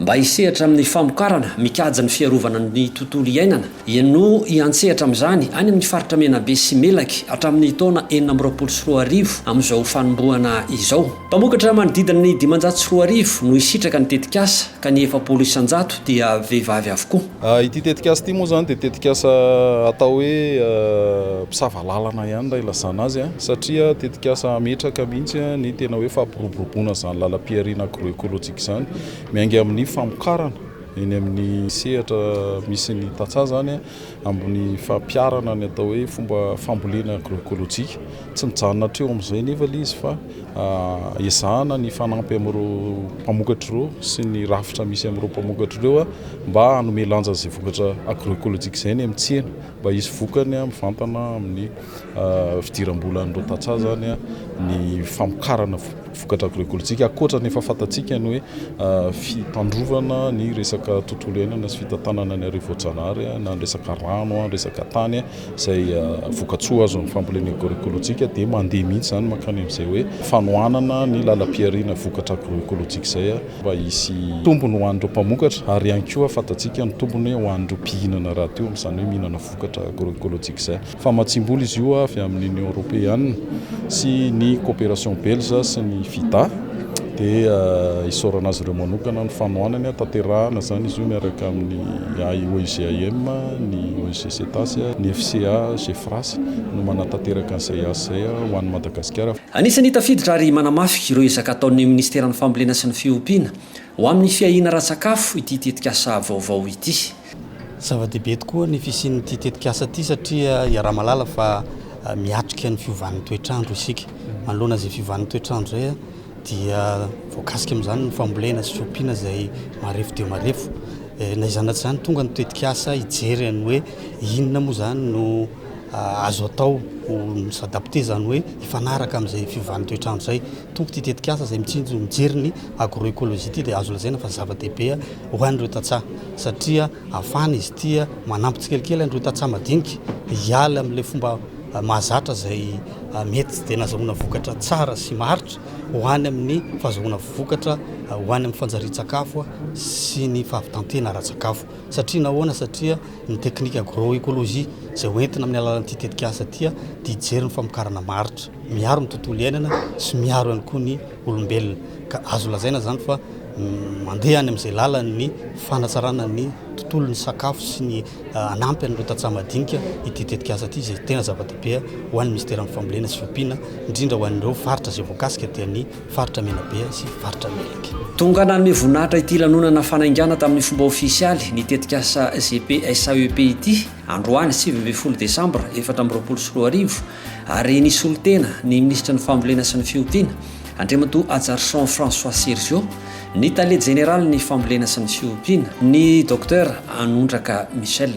Mba hisehatra amin'ny famokarana mikajy ny fiarovana ny tontolo iainana, dia no hiantsehatra amin'izany any amin'ny faritra Menabe sy Melaky hatramin'ny taona enina amby roapolo sy roa arivo amin'izao fanombohana izao. Mpamokatra manodidina ny dimanjato sy roa arivo no hisitraka ny tetikasa ka ny efapolo isan-jato dia vehivavy avokoa. Ity tetikasa ity moa izany dia tetikasa atao hoe mpisava lalana ihany raha ilazana azy satria tetikasa hametraka mihitsy ny tena hoe fampiroboroboana izany lalam-pihariana agro-ecologique izany. Izany miainga amin'ny famokarana eny amin'ny sehatra misy ny tantsaha izany amin'ny fampiharana ny atao hoe fomba fambolena agroekolojika. Tsy mijanona hatreo amin'izay nefa ilay izy fa ezahana ny fanampy amin'ireo mpamokatra ireo sy ny rafitra misy amin'ireo mpamokatra ireo mba hanome lanja izay vokatra agroekolojika izay ny amin'ny tsena. Mba hisy vokany mivantana amin'ny fidiram-bola an'ireo tantsaha izany ny famokarana vokatra agrôekôlôjika, ankoatra ny efa fantatsika ny hoe fitandrovana ny resaka tontolo iainana sy fitantanana ny hariva voajanahary na ny resaka rano, ny resaka tany izay vokatsoa azon'ny fambolena agrôekôlôjika dia mandeha mihitsy izany mankany amin'izay hoe fanohanana ny lalam-pihariana vokatra agrôekôlôjika izay. mba hisy tombony ho an'ireo mpamokatra ary ihany koa fantatsika ny tombony ho an'ireo mpihinana rahateo amin'izany hoe mihinana vokatra agro-ecologique izay. Famatsiam-bola izy io avy amin'ny Union Européenne sy ny Coopération Belge sy ny FIDA dia isaorana azy ireo manokana ny fanohanany. Hatanterahana izany izy io miaraka amin'ny AIOIGAM, ny ONG Cetas, ny FCA, Gefras no manatanteraka an'izay asa izay ho an'i Madagasikara. Anisan'ny tafiditra ary manamafy ireo ezaka ataon'ny Minisiteran'ny Fambolena sy ny Fiompiana ho amin'ny fiahiana ara-tsakafo ity tetikasa vaovao ity. Zava-dehibe tokoa ny fisian'ity tetikasa ity satria iaraha-mahalala fa miatrika ny fiovan'ny toetr'andro isika. Manoloana izay fiovan'ny toetr'andro izay dia voakasika amin'izany ny fambolena sy fiompiana izay marefo dia marefo. Na izany na tsy izany tonga ny tetikasa hijery ny hoe inona moa izany no azo atao ho s'adapter izany hoe hifanaraka amin'izay fiovan'ny toetr'andro izay. Tompoko ity tetikasa izay mitsinjo mijery ny agroecologie ity dia azo lazaina fa zava-dehibe ho an'ireo tantsaha satria afahana izy ity manampy tsikelikely an'ireo tantsaha madinika hiala amin'ilay fomba mahazatra izay mety tsy dia nahazahoana vokatra tsara sy maharitra ho any amin'ny fahazahoana vokatra ho any amin'ny fanjarian-tsakafo sy ny fahavitantena ara-tsakafo. Satria nahoana? Satria ny teknika agroecologie izay ho entina amin'ny alalan'ity tetikasa ity dia hijery ny famokarana maharitra, miaro ny tontolo iainana sy miaro ihany koa ny olombelona. Ka azo lazaina izany fa mandeha any amin'izay lalan'ny fanatsarana ny tontolo, ny sakafo sy ny hanampy an'ireo tantsaha madinika ity tetikasa ity izay tena zava-dehibe ho an'ny Minisiteran'ny Fambolena sy Fiompiana, indrindra ho an'ireo faritra izay voakasika dia ny. Faritra Menabe sy Faritra Melaky. Tonga nanome voninahitra ity lanonana fanaingana tamin'ny fomba ofisialy ny tetikasa GPSAEP ity, androany sivy ambin'ny folo desambra efatra amby roapolo sy roa arivo, ary nisolo tena ny minisitry ny Fambolena sy ny Fiompiana, Andriamatoa Hajarison François Sergio, ny tale jeneralin'ny Fambolena sy ny Fiompiana, ny Docteur Anondraka Michel.